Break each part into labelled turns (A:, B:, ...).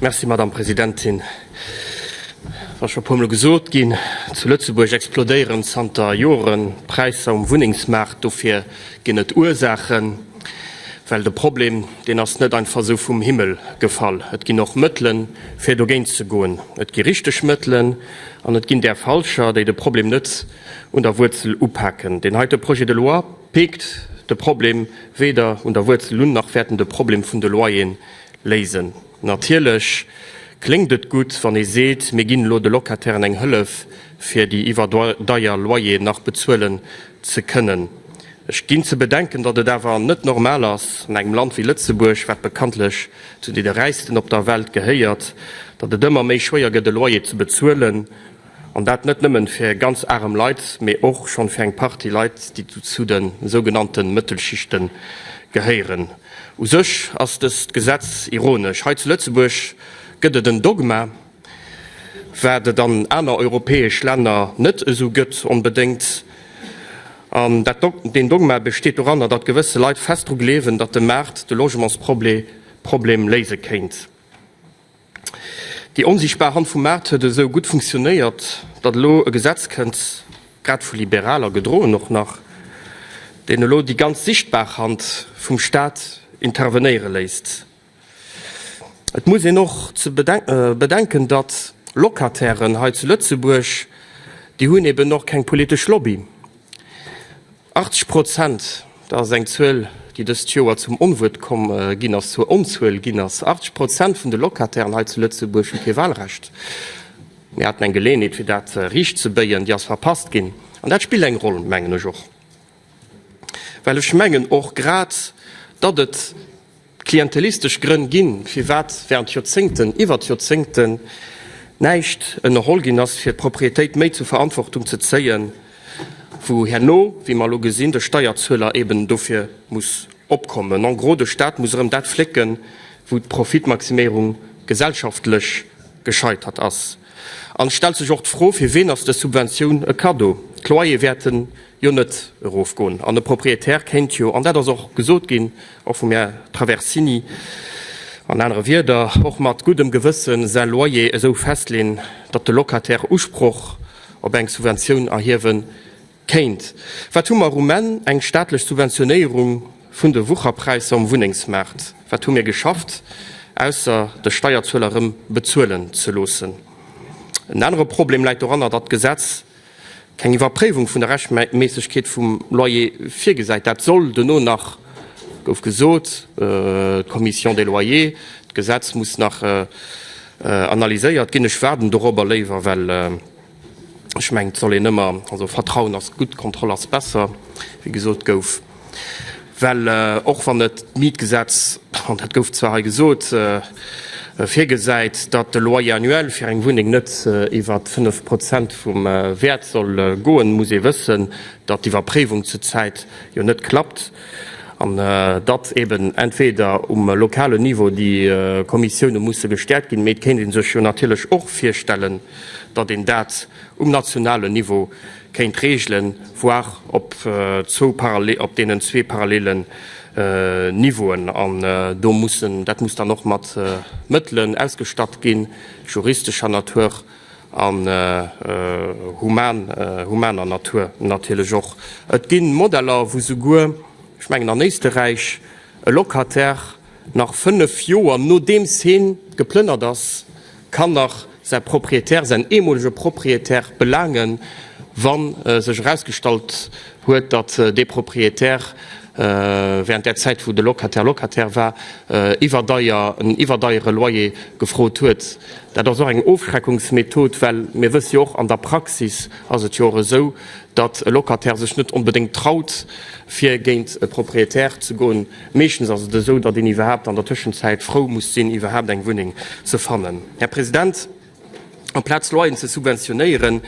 A: Merci, Madame Presidentin. Et ass scho e puermol gesot ginn, Zu Lëtzebuerg explodéieren zanter Joren d'Präisser um Wunnengsmaart. Dofir ginn et Ursaachen, well de Problem deen ass net einfach esou vum Himmel gefall. Et ginn och Mëttelen, fir dogéint ze goen. Et gi richteg Mëttelen an et ginn där falscher, déi de Problem net un der Wuerzel upaken. Deen heite Projet de loi, Peekt de Problem weder un der Wuerzel un, nach wäert en de Problem vun de Loyeren léisen. Natierlech kléngt et gutt, wann ee seet, mir ginn elo de Locatairen eng Hëllef, fir déi iwwerdeier Loyeren nach bezuelen ze kënnen. Ech ginn ze bedenken, datt et awer net normal ass an engem Land wéi Lëtzebuerg, wat bekanntlech zu deene Räichsten op der Welt gehéiert, datt et ëmmer méi schwéier gëtt, e Loyer ze bezuelen. An dat net nëmmen fir ganz arem Leit, mee och schon fir eng Partie Leit déi zu den sougenannten Mëttelschichten gehéieren. U sech ass dëst Gesetz ironesch. Hei zu Lëtzebuerg gëtt et en Dogma, wat et an aner europäesch Länner net esou gëtt onbedéngt. An deen Dogma besteet doranner, datt gewësse Leit fest dru gleewen, datt de Maart de Logementsproblem léise kéint. Déi onsichtbar Hand vum Maart huet esou gutt funktionéiert, datt elo e Gesetz kënnt, grad vu Liberaler gedroen och nach, deen elo déi ganz sichtbar Hand vum Staat intervenéiere léisst. Et muss een och bedenken, datt Locatairen hei zu Lëtzebuerg, déi hunn eben och keng politesch Lobby. 80 Prozent, dat ass eng Zuel, déi dëst Joer zum Onwuert komm ginn ass, zur Onzuel ginn ass, 80 Prozent vun de Locatairen hei zu Lëtzebuerg hu kee Wahlrecht. Mir haten eng Geleeënheet, fir dat riichtzebéien, déi ass verpasst ginn. An dat spillt eng Roll, mengen ech och, well ech mengen och grad, datt et D'klientelistesch Grënn ginn, firwat während Joerzéngten iwwert Joerzéngten näischt ënnerholl ginn ass, fir d'Proprietéit méi zur Verantwortung ze zéien, wou herno, wéi mer elo gesinn, de Steierzueler eben dofir muss opkommen. En gros, de Stat muss erëm dat flécken, wou d'Profitmaximierung gesellschaftlech gescheitert ass. An et stellt sech och d'Fro, Fir ween ass dës Subventioun e Kaddo? D'Loyere wäerten jo net erofgoen an e Proprietär kéint jo, an dat ass och gesot ginn, och vum Här Traversini an anere Wierder, och mat guddem Gewësse säi Loyer esou festleeën, datt de Locataire Usproch op eng Subventioun erhiewe Kéint. Wat hu mer um Enn? Eng staatlech Subventionéierung vun de Wucherpräisser um Wunnengsmaart. Wat hu mir geschafft, ausser de Steierzueler erëm bezuelen ze loossen? En anere Problem läit doranner, datt d'Gesetz keng Iwwerpréiwung vun der Rechtmässegkeet vum Loyer virgesäit. Dat soll dono nach, gouf gesot, d'Commission des loyers, d'Gesetz muss nach analyséiert ginn. Ech waarden dorobber léiwer, well. Ech mengen, et soll een ëmmer, also Vertrauen ass gutt, Kontroll ass besser, wéi gesot gouf, well och wann et d'Mietgesetz, an dat gouf zwar hei gesot, virgesäit, datt de Loyer annuel fir eng Wunneng net iwwer 5 Prozent vum Wäert soll goen, muss ee wëssen, datt d'Iwwerpréiwung zur Zäit jo net klappt an datt eeben entweder um lokalen Niveau déi Kommissioune musse gestäerkt ginn, mee et kéint ee sech jo natierlech och virstellen, datt een dat um nationalen Niveau kéint regelen, voire op deenen zwee parallelen Niveauen. An do muss en, dat muss dann och mat Mëttelen ausgestatt ginn, juristescher Natur an humaner Natur natierlech och. Et gi Modeller, wou souguer, ech mengen an Éisterräich, e Locataire, Nach 5 Joer nodeems heen geplënnert ass, kann nach säi Propriétaire, säin eemolege Propriétaire belaangen, wann sech erausgestallt huet, datt dee Propriétaire während där Zäit wou de Locataire Locataire war, iwwerdeier, en iwwerdeiere Loyer gefrot huet. Dat ass och eng Ofschreckungsmethod, well mir wësse jo och, an der Praxis ass et jo och esou, datt e Locataire sech net onbedéngt traut fir géint e Propriétaire ze goen, Meeschtens ass et esou, datt een iwwerhaapt an der Tëschenzäit frou muss sinn, iwwerhaapt eng Wunneng ze fannen, Här President. Amplaz Loyeren ze subventionéieren,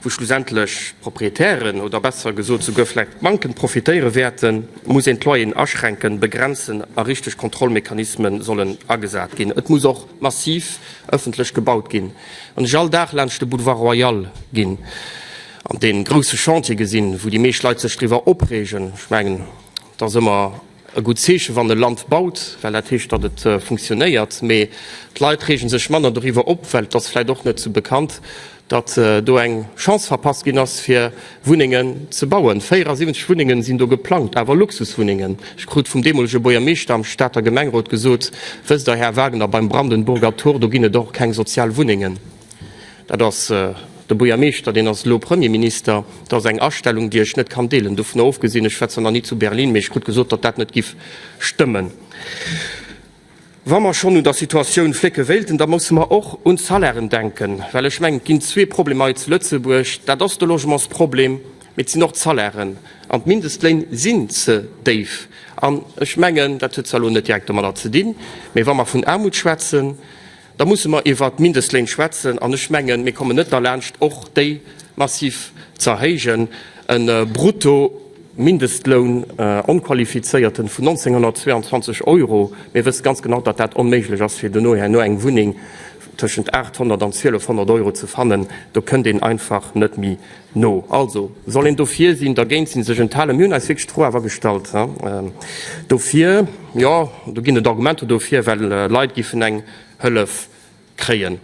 A: wou schlussendlech d'Proprietären oder besser gesot souguer vläicht d'Banken profitéiere wäerten, muss een d'Loyeren aschränken, begrenzen a richteg Kontrollmechanisme sollen agesat ginn. Et muss och massiv ëffentlech gebaut ginn. Wann ech all Dag laanscht de Boulevard Royal ginn an dee grousse Chantier gesinn, wou déi meescht Leit sech driwwer opreegen, ech mengen, Et ass ëmmer e gutt Zeechen, wann e Land baut, well dat heescht, datt et funktionéiert. Mee d'Leit reege sech manner doriwwer op, well et ass vläicht och net sou bekannt, datt do eng Chance verpasst ginn ass, fir Wunnengen ze bauen. 74 Wunnenge sinn do geplangt, awer Luxuswunnengen. Ech krut vum deemolege Buergermeeschter am Stater Gemengrot gesot, Wësst Der, Här Wagner, beim Brandenburger Tor, do ginn et och keng sozial Wunnengen. Dat ass de Buergermeeschter, deen ass elo Premierminister. Dat ass eng Astellung, déi ech net kann deelen. Dovunner ofgesinn, ech schwätzen nach ni zu Berlin, mee ech krut gesot, datt dat net giff stëmmen. Wa mer schonn un der Situatioun flécke wéilten, da musse mer och un d'Salairen denken, well ech mengen, et ginn zwee Problemer hei zu Lëtzebuerg, dat ass de Logementsproblem, mee et sinn och d'Salairen. An d'Mindestléin sinn ze déif. An ech mengen, dat huet zwar elo net direkt domadder ze dinn, mee wa mer vun Aarmut schwätzen, Da musse mer iwwert d'Mindestléin schwätzen. An ech mengen, mir kommen net derlaanscht, och déi massiv ze erhéijen. E Bruttomindestloun, onqualifizéierten, vun 1.922 Euro, mir wësse ganz genau, datt dat onméiglech ass, fir dono herno eng Wunneng tëschent 800 an 1.200 Euro ze fannen. Do kënnt een einfach net méi No. Also soll een dofir sinn, dergéint sinn, sech enthalen. Mir hunn eis wierklech d'Fro awer gestallt dofir. Jo, do ginn et Argumenter dofir, well Leit giffen eng Hëllef kréien,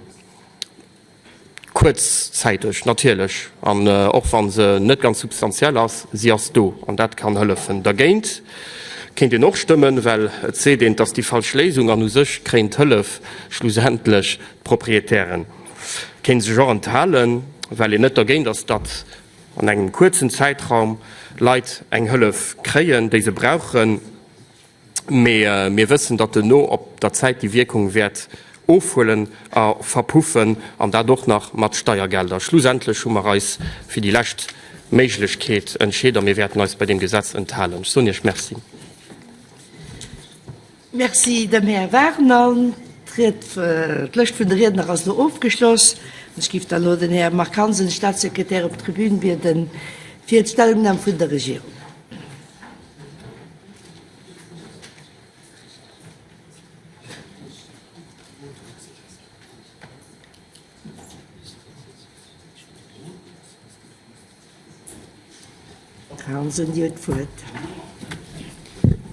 A: kuerzzäiteg natierlech, an och wa se net ganz substantiell ass, si ass do an dat kann hëllefen. Dergéint kéint een och stëmmen, well et seet een, et ass déi falsch Léisung an u sech kréien d'Hëllef schlussendlech d'Proprietären. kéint sech och enthalen, well een net dergéint ass, datt an engem kuerzen Zäitraum Leit eng Hëllef kréien, déi se brauchen, mee mir wëssen, datt duerno op der Zäit déi Wierkung wäert ofhuelen a verpuffen, an dat och nach mat Steiergelder. Schlussendlech hu mer eis fir déi lescht Méiglechkeet entscheet a mir wäerten eis bei deem Gesetz enthalen. Ech soen Iech Merci. Merci dem Här Vernang. D'Lëscht vun de Riedner ass elo ofgeschloss. Ech giff da elo den Här Marc Hansen, Staatssekretär, op d'Tribün bieden, fir d'Stellungnam vun der Regierung. Här Hansen, Dir hutt d'Wuert.